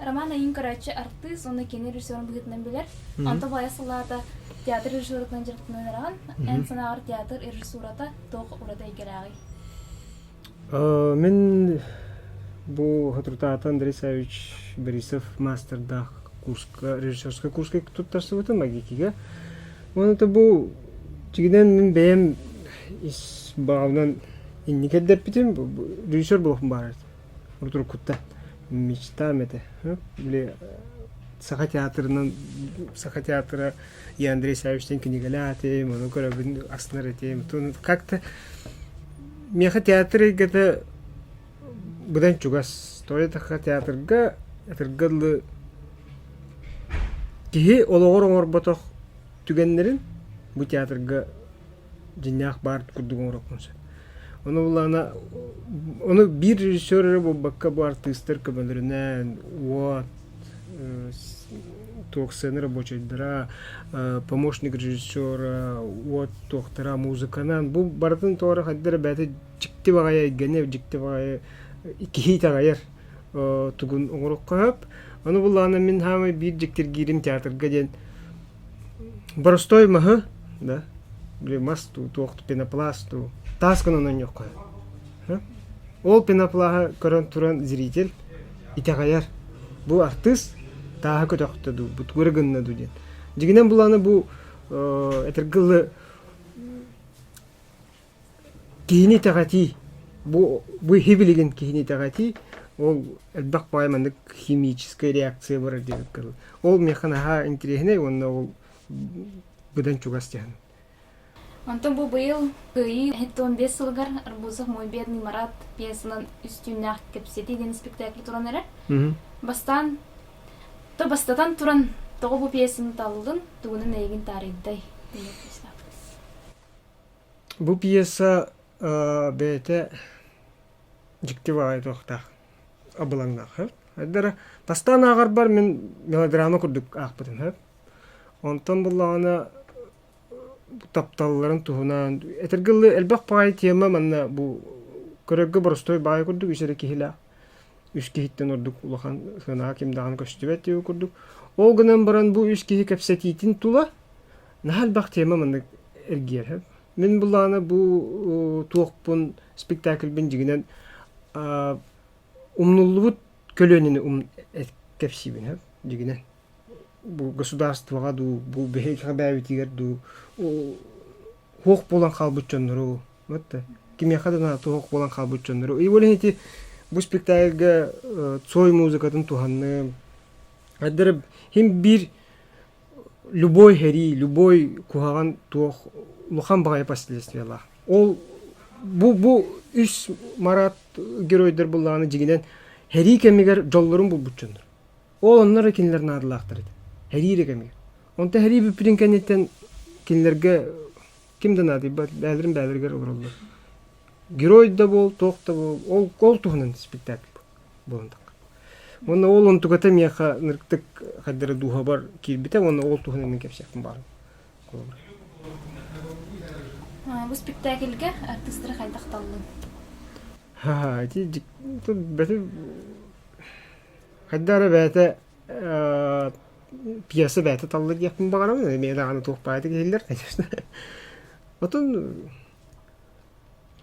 Роман айын көрөөччү артыыс уонна кини режиссерын быһыытынан билэр. Онто баайа салаата театр режиссерытынан дьарыктанан ыраҕан, эн санааҕар театр режиссурата туох ураты эйгэлээҕий? Мин бу Хатырутаата Андрей Савич Борисов маастардаах курска, режиссерскай курска туттарсыбытым АГИКигэ. Уонна это бу тигинен мин бэйэм ис баабынан инникердеппитим режиссер болохум баарат. уруккута мечта этэ били саха театрынан саха театра я андрей савичтан кинигэлээтим ону көрөбүн астынар этим как-то миэхэ театр эйгэтэ быдан чугас тойотахха театрга театрга ылы киһи олоҕор оҥорботох түгэннэрин бу театрга дьиҥнээх баар курдук оҥороккун сөп. Ону булаана ону биир режиссер эрэ буолбакка бу артыыстар көмөлөрүнэн уот туох сцена рабочайдара помощник режиссера уот туохтара музыканан бу барытын тоҕо хайдах бэйэтэ дьикти баҕайы эйгэни дьикти баҕайы киһи итэҕэйэр тугун оҥороххо сөп. Аны булаана мин хаамай биир дьиктиргиирим театрга диэн боростой маһы, да, мас туу, туох пенопласт туу, таасканан ойноххо Ол пеноплаһа көрөн туран зритель итэҕэйэр. Бу артыыс тааһа көтөхтө дуу, бут көрө гынна дуу диэн. Дигинен булааны бу этергылы Киһини итэҕэтии, бу бу киһи билигин киһини итэҕэтии ол элбэх баҕайы маннык химическая реакция барар диэбит курдук. Ол миэхэ наһаа интэриэһинэй уонна ол быдан чугас дьаһан. Онтон бу быйыл Кыайыы иһиттэн биэс сылыгар Арбузов мой бедный Марат пьесанан үстүүннээх кэпсэтии диэн испэктээкил туран эрэр. Бастаан то бастатан туран тоҕо бу пьесаны таллыгын, тугунан эйигин таарыйдай Бу пьеса бэйэтэ дьикти баҕайы туохтаах абылаҥнаах үһү. Хайдара бастаан ааҕарбар мин мелодрама курдук аахпытым үһү. Онтон буоллаҕына тапталларын туһунан этэргэ дылы элбэх баҕайы тема манна бу көрөргө боростуой баҕайы курдук үс эрэ киһилээх үс киһиттэн ордук улахан сыанаҕа ким даҕаны көстүбэт диэбит курдук. Ол гынан баран бу үс киһи кэпсэтиитин тула наһаа элбэх тема маннык эргиэрһэ мин булаана бу туохпун спектакльбин дьигинэн умнуллубут көлүөнэни ум кэпсиибин дьигинэн бу государствоҕа дуу бу биһиги бээбитигэр дуу хуох буолан хаалбыт дьоннору вот кимиэхэ да туох буолан хаалбыт дьоннору и более эти бу спектакльга цой музыкатын туһанным хим биир любой сэрии, любой куһаҕан туох улахан баҕайы последствиялаах. Ол бу бу үс марат геройдор буллаҕына дьиҥинэн сэрии кэмигэр дьоллорун булбут дьоннор. Ол оннура кинилэр наадалаахтар этэ. Сэрии эрэ кэмигэр. Онто сэрии бүппүтүн кэнниттэн кинилэргэ ким да наадыйбат бээлэрин бээлэригэр олороллор. Герой да буол, туох да буол, ол ол туһунан спектакль. Уонна ол онтуката миэхэ нырктык хайдара дууһабар киирбитэ уонна ол туһунан мин кэпсиэхпин баарын Бу спектакльгэ артыыстары хайдах таллын? Ха, ити бэти хайда эрэ бэйэтэ пьеса бэйэтэ талла диэхпин баҕарабын эмиэ даҕаны туох баайда киһилэр конечно отун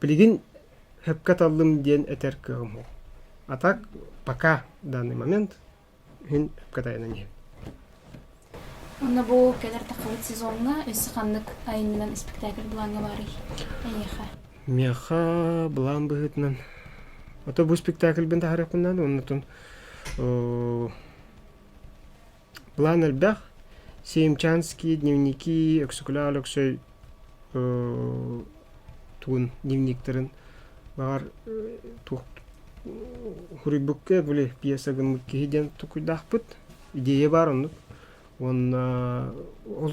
Билигин хөпкө таллым диэн этэр кыаҕым уһук. А так пока в данный момент иһин хөпкө тайанан иһин. Онно бу кэлэр таххабыт сезоҥҥа өссө ханнык айымньынан испэктээкил былааҥҥа баарый? Эйиэхэ. Миэхэ былаан быһыытынан ото бу спектакльбын таһаарыахпын наада оннутун План элбэх. Семчанский дневники Өксөкүлээх Өлөксөй тугун дневниктарын баҕар туох хуруйбукка били пьеса гыммыт киһи диэн тукуйдаахпыт. Идея баар оннук. Уонна ол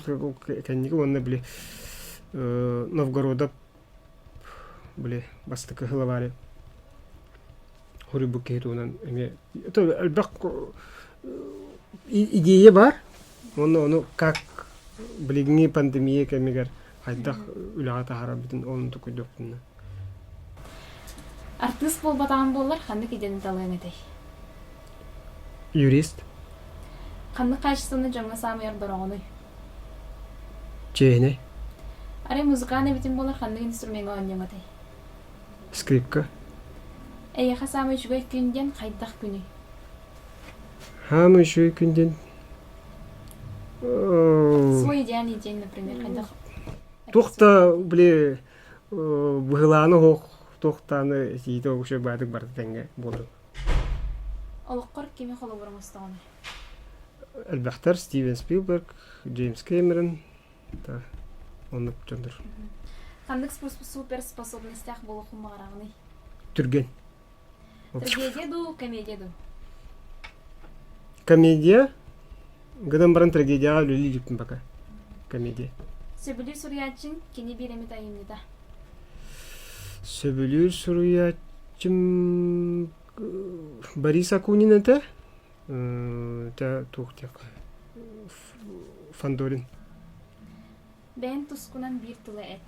кэнники уонна били Новгородов били бастакы сылабаары хоруйбут киһи туһунан эмиэ то элбэх идея баар уонна ону как билиҥҥи пандемия кэмигэр хайдах үлэҕэ таһаарарбытын ол оннук өйдүөхпүнэ артыыс буолбатаҕым буоллар ханнык идеяны талыаҥ этэй юрист ханнык хаачыстыбаны дьоҥҥо саамай ордороҕунуй чээһинэй Арай музыкааны эбитим буолар ханнык инструменҥа оонньуоҥ этэй? скрипка Эйиэхэ саамай үчүгэй күн диэн хайдах күнүй? хаамыы үчүгэй күн диэн э, Свой идеальный день, например, хайдах туох да били э, быһылааны оһох туохтааны этиитэ огуча баатык барыта тэҥҥэ буолар олоххор кими холобур оҥостоҕун? Элбэхтэр Стивен Спилберг, Джеймс Кэмерон та оннук дьоннор. Ханнык суперспособностях болохун маҕараҕыный? Түргэн. Трагедия дуу, комедия дуу? Комедия гынан баран трагедияҕа үлэлиирбиппин пока. Комедия. Сөбүлүүр суруйааччын кини биир эмит айымньыта. Сөбүлүүр суруйааччым Борис Акунин этэ, итэ туох диэххэ Фандорин. Бэйэн тускунан биир тыла эт.